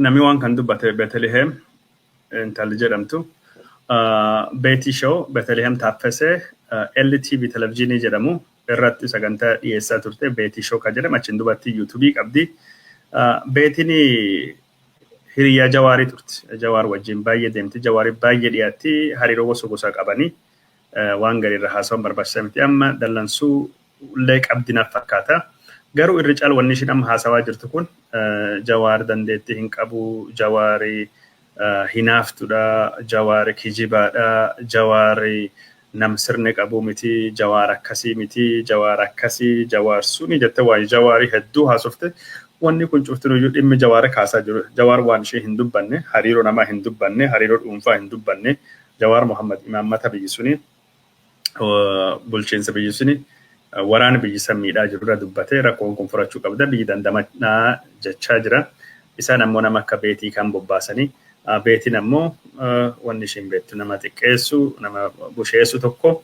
Namni waan kan dubbate Beteliheem intalli jedhamtu Beetii Shoo Beteliheem Taaffesee LTV televizyiinii jedhamu irratti sagantaa dhiyeessaa turte Beetii Shoo kan jedhamu achiin dubartii yuutuubii qabdi. Beetiin hiriyaa Jawaarii turte. Jawaar wajjin baay'ee deemti. Jawaariif baay'ee dhiyaatti. Hariiroo gosa gosaa qabani. waan gari irra haasawan barbaachisa miti amma dallansuu illee qabdi naf fakkaata garuu irri caal wanni ishiin amma haasawaa jirtu kun jawaar dandeettii hin qabu jawaari hinaaftudha jawaari kijibaadha jawaari nam sirni qabuu miti jawaar akkasii miti jawaar akkasii jawaar suni jette waan jawaari hedduu haasofte wanni kun cuftinuyyuu dhimmi jawaara kaasaa jiru jawaar waan ishee hin dubbanne hariiroo namaa hin dubbanne hariiroo dhuunfaa hin dubbanne Jawaar Mohammad imaammata biyyi suni bulchiinsa biyyi suni waraana biyyi san miidhaa jirurra dubbatee rakkoon kun furachuu qabda biyyi dandamanaa jechaa jira. Isaan ammoo nama akka beetii kan bobbaasanii beetiin ammoo wanni ishiin beettu nama xiqqeessu nama busheessu tokko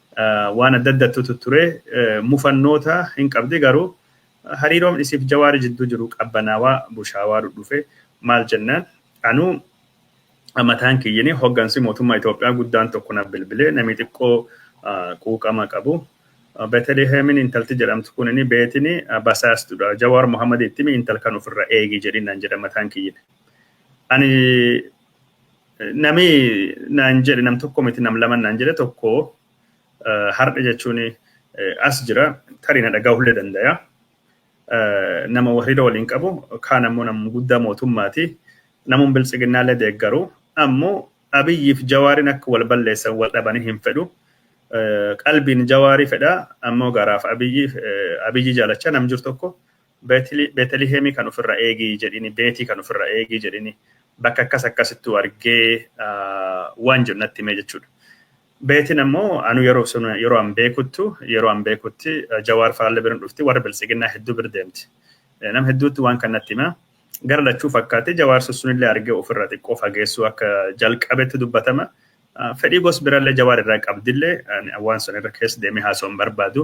waan adda addattu tutture mufannoota hin qabdi garuu hariiroon isiif jawaari jidduu jiru qabbanaawaa bushaawaa dhudhufe maal jennaan anuu mataan kiyyini hoggansi mootummaa Itoophiyaa guddaan tokko na bilbilee namii xiqqoo quuqama qabu Beteliheemin intalti jedhamtu kun inni beetini basaastudha jawaar Muhammad ittimi intal kan ofirra eegi jedhin naan jedha mataan kiyyini ani Nami naan jedhe nam tokko miti nam lama naan jedhe tokko har'a jechuun as jira tarii na dhagahullee dandaya. Nama wahriira waliin qabu kaan ammoo nam guddaa mootummaati. Namuun biltsiginnaallee deeggaru ammoo abiyyiif jawaariin akka wal balleessan wal dhabanii hin fedhu. Qalbiin jawaarii fedha ammoo garaaf abiyyi abiyyi jaalachaa nam jiru tokko Beetli- Beetelihemii kan ofirra eegi jedhini, Beetii kan ofirra eegi jedhini, bakka akkas akkasittuu argee ah, waan jedhu natti himee jechuudha. Beetiin ammoo anu yeroo sun yeroo an beekuttu yeroo an beekutti eh, Jawaar Faalle biran dhufti warra biltsiginnaa hedduu bir deemti. Eh, Nam hedduutti waan kan natti hima. Gara lachuu fakkaatti Jawaar sussunillee argee ofirra xiqqoo fageessuu akka jalqabetti dubbatama. Fedhii gos birallee jawaar irraa qabdillee waan san irra keessa deemee haasa'u hin barbaadu.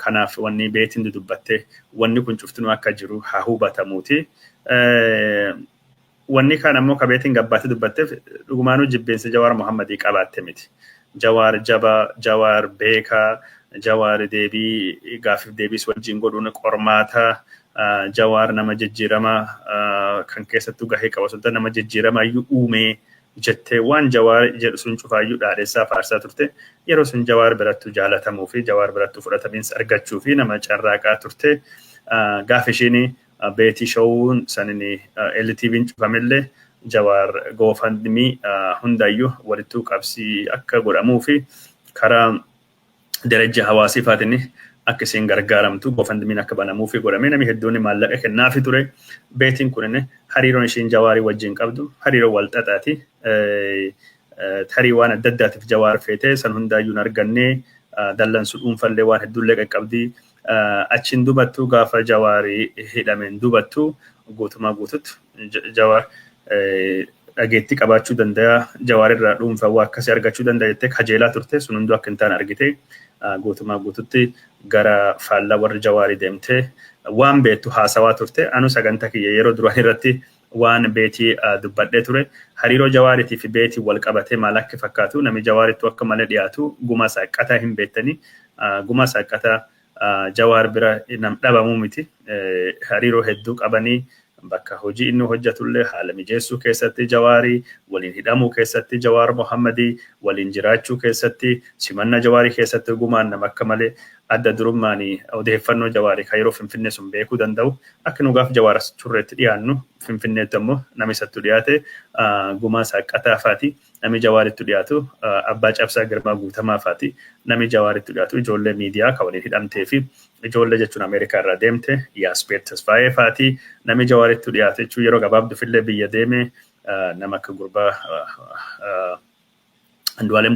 Kanaaf wanni beetiin dudubbatte wanni kun cuftinuu akka jiru haa hubatamuuti. Wanni kaan ammoo ka beetiin gabbaatti dubbatteef dhugumaanuu jibbiinsa jawaar Muhammadii qabaatte miti. Jawaar jaba, jawaar beeka, jawaar deebii gaaffiif deebiis wajjiin godhuun qormaata, jawaar nama jijjiirama kan keessattuu gahee qabu osoo nama jijjiirama iyyuu uumee jette waan Jawaar jedhu sun cufaayyuu dhaadhessaa faarsaa turte. Yeroo sun Jawaar birattuu jaalatamuu fi Jawaar birattuu fudhatamiinsa argachuu fi nama carraaqaa turte. Gaaf ishiin Beetii Showuun sanin LTVn cufamellee Jawaar GoFundMe hundayyuu walittuu qabsii akka godhamuu fi karaa darajja hawaasii faatiin akka isiin gargaaramtu gofandmiin akka banamuufi godhamee namni hedduun maallaqa kennaafi ture. Beetiin kunin hariiroon ishiin jawaarii wajjin qabdu hariiroo wal xaxaati. Tarii waan adda addaatiif jawaar feetee san hundaayyuu hin argannee dallansu dhuunfallee waan hedduullee qaqqabdii Achiin dubattuu gaafa Jawaari hidhameen dubattuu guutumaa guututti Jawaar dhageettii qabaachuu danda'a Jawaar irraa dhuunfaa waa akkasii argachuu danda'a jettee kajeelaa turte sun hunduu akka hin taane argite guutumaa guututti gara faallaa warri Jawaarii deemtee waan beektu haasawaa turte anu saganta kiyya yeroo duraan irratti waan beeti dubbadhe ture hariiroo jawaariti fi beeti wal qabate maal akk fakkaatu nami jawaarittu akka male dhiyaatu guma saaqqata hin beettani guma saaqqata jawaar bira nam dhabamu miti hariiroo hedduu qabani bakka hojii inni hojjatulle haala mijeessuu keessatti jawaari waliin hidhamuu keessatti jawaar mohammadi waliin jiraachuu keessatti simanna jawaari keessatti gumaan nam akka male adda durummaani odeeffannoo jawaari ka yeroo finfinnee sun beekuu danda'u Akka nu gaaf Jawaar as turreetti dhiyaannu Finfinneetti ammoo nama isattu dhiyaate Gumaa Saaqqataa faati. Nami Jawaarittu dhiyaatu Abbaa Cabsaa Girmaa Guutamaa faati. Nami Jawaarittu dhiyaatu ijoollee miidiyaa ka waliin hidhamtee fi ijoollee jechuun Ameerikaa irraa deemte Yaasbeet Tasfaayee faati. Nami Jawaarittu dhiyaate jechuun yeroo gabaabdufillee biyya deeme nama akka gurbaa Andu'aalem